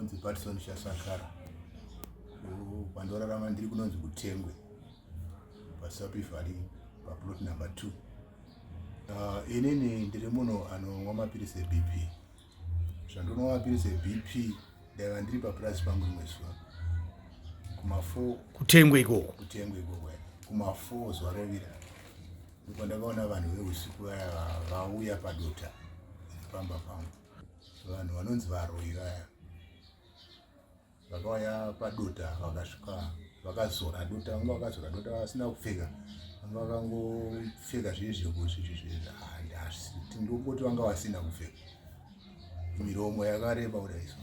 ndonzi patson shasakara pandorarama ndiri kunonzi kutengwe pasapivhari paplot number two uh, inini ndiri munhu anonwa mapiritsi ebp zvandonwa mapiritsi ebp ndaiva ndiri papurazi pangu rimwe zuva kumafo kutengwe ikoko kutengwe ikoko kumafo zuva rovira ndipo ndakaona vanhu veusiku vaya vauya padota pamba pangu vanhu vanonzi varoi vaya vakauya padota vakasvika vakazora dota vanga vakazora dota vasina kupfeka vanga vakangopfeka zvii zvekutindokuti vanga vasina kupfeka miromo yakareba kudaiso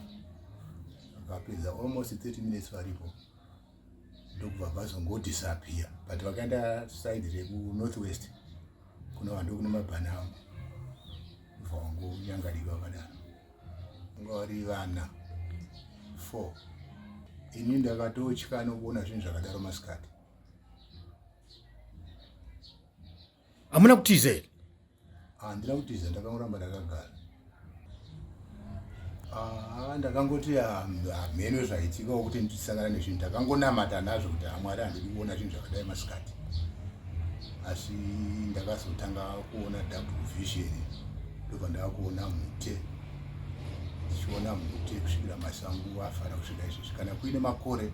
vakapedza almost 30 minutes varipo ndokubva vazongodisappear but vakaenda side rekunorth west kuno vanhu ndokune mabhana angu bva vangonyangarika vakadaro vanga vari vana four ini ndakatotya nokuona zvinhu zvakadaro masikati hamuna kutiza here handina ah, kutiza ndakangoramba ndakagara ah, ndakangoti hamheno ah, zvaitika wokuti ndisangana nezvinhu ndakangonamata nazvo kuti hamwari handidi kuona zvinhu zvakadai masikati asi ndakazotanga kuona double vision ndobva ndaakuona mute ndichiona mute kusvikira masangu afara kusvika izvezvi kana kuine makore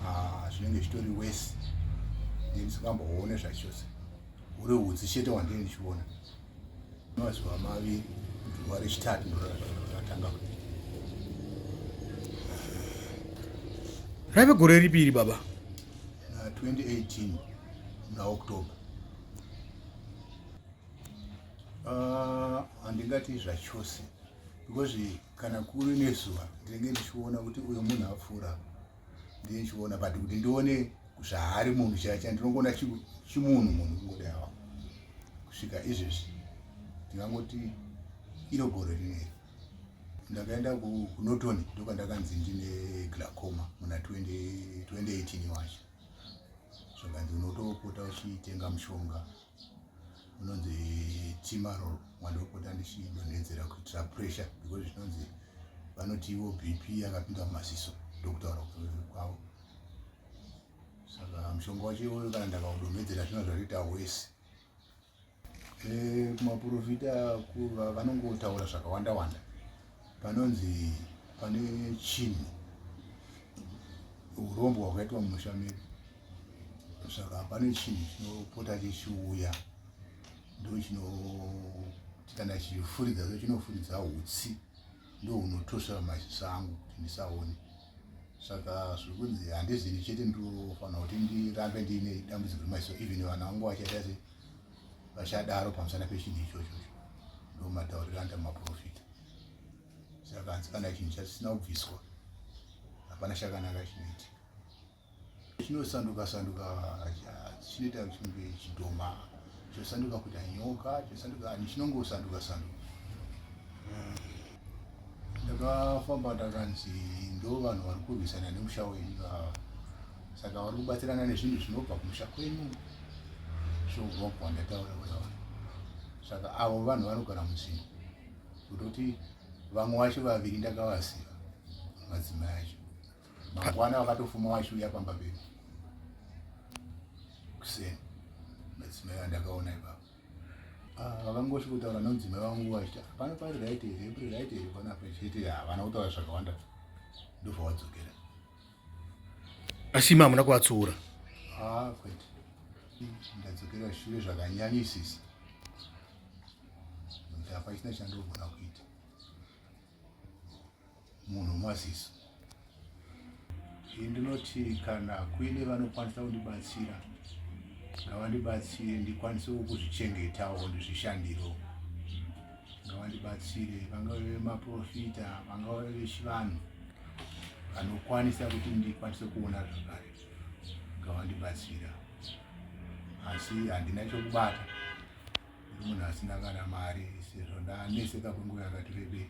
ah, zvinenge zvitori wesi ndisingamboone zvachose uri hutsi chete wandii ndichiona mazuva maviri zuva rechitatu ndoratanga raive gore ripi iri baba na 2018 muna october ah, handingati uh, zvachose because kana kuri nezuva ndinenge ndichiona kuti uyo munhu apfuura ndiye ndichiona but kuti ndione zvaari munhu chaicha ndinongona chimunhu munhu kungodawa kusvika izvezvi ndingangoti iro gore rineri ndakaenda kunoton ndokandakanzi ndine glacoma muna 2018 wacho zvakanzi unotopota uchitenga mushonga unonzi timarol wandopota ndichidonhedzera kuitira pressure because zvinonzi vanoti ivo bp yakapinda mumaziso ndokutaura kwavo saka mushonga wacho iwoyo kana ndakaudonhedzera zvino zvatoita wese Eh, kumaporofita kuva vanongotaura zvakawanda wanda panonzi pane chinhu urombo hwakaitwa mumusha medu saka pane chinhu chinopota chichiuya ndo chino kana chichifuridza so chinofuridza utsi ndo unotosvera maziso angu kuti ndisaone saka zviri kunzi handizini chete ndofanira kuti ndirambe ndiine dambudziko remaziso even vana vangu vachaita se vachadaro pamusana pechinhu ichocho ndo matauriro anda maprofita saka hanzi kana chinhu chasina kubviswa hapana chakanaka chinoitika chinosanduka sanduka chinoita kunge chidhoma chosanduka kuita nyoka chosanduka ani chinongosanduka sanduka ndakafamba ndakanzi ndo vanhu vari kurwisana nemusha wenyu saka vari kubatsirana nezvinhu zvinobva kumusha kwenyu zvourwa kwandataura kudava saka avo vanhu vanogara muzinhu kutoti vamwe vacho vaviri ndakavaziva madzimai acho mangwana wakatofuma waishuya pamba pedu kuseni madzimai andakaona ipapo ah, vakangosvi kutaura nomudzimai wangu wachita pano pari right here pari right here pano apa chete havana kutaura zvakawanda ndobva wadzokera asi imi hamuna kuvatsuura ah, kwete ndadzokera shure zvakanyanyisisa kuti hapachina chandogona kuita munhu maziso ndinoti kana kuine vanokwanisa kundibatsira ngavandibatsire ndikwanise kuzvichengetawo ndizvishandirewo ngavandibatsire vangave vemaprofita vangave vechivanhu vanokwanisa kuti ndikwanise kuona zvakare ngavandibatsira asi handina chokubata munhu asina kana mari sezvo ndaneseka kwenguva yakati rebei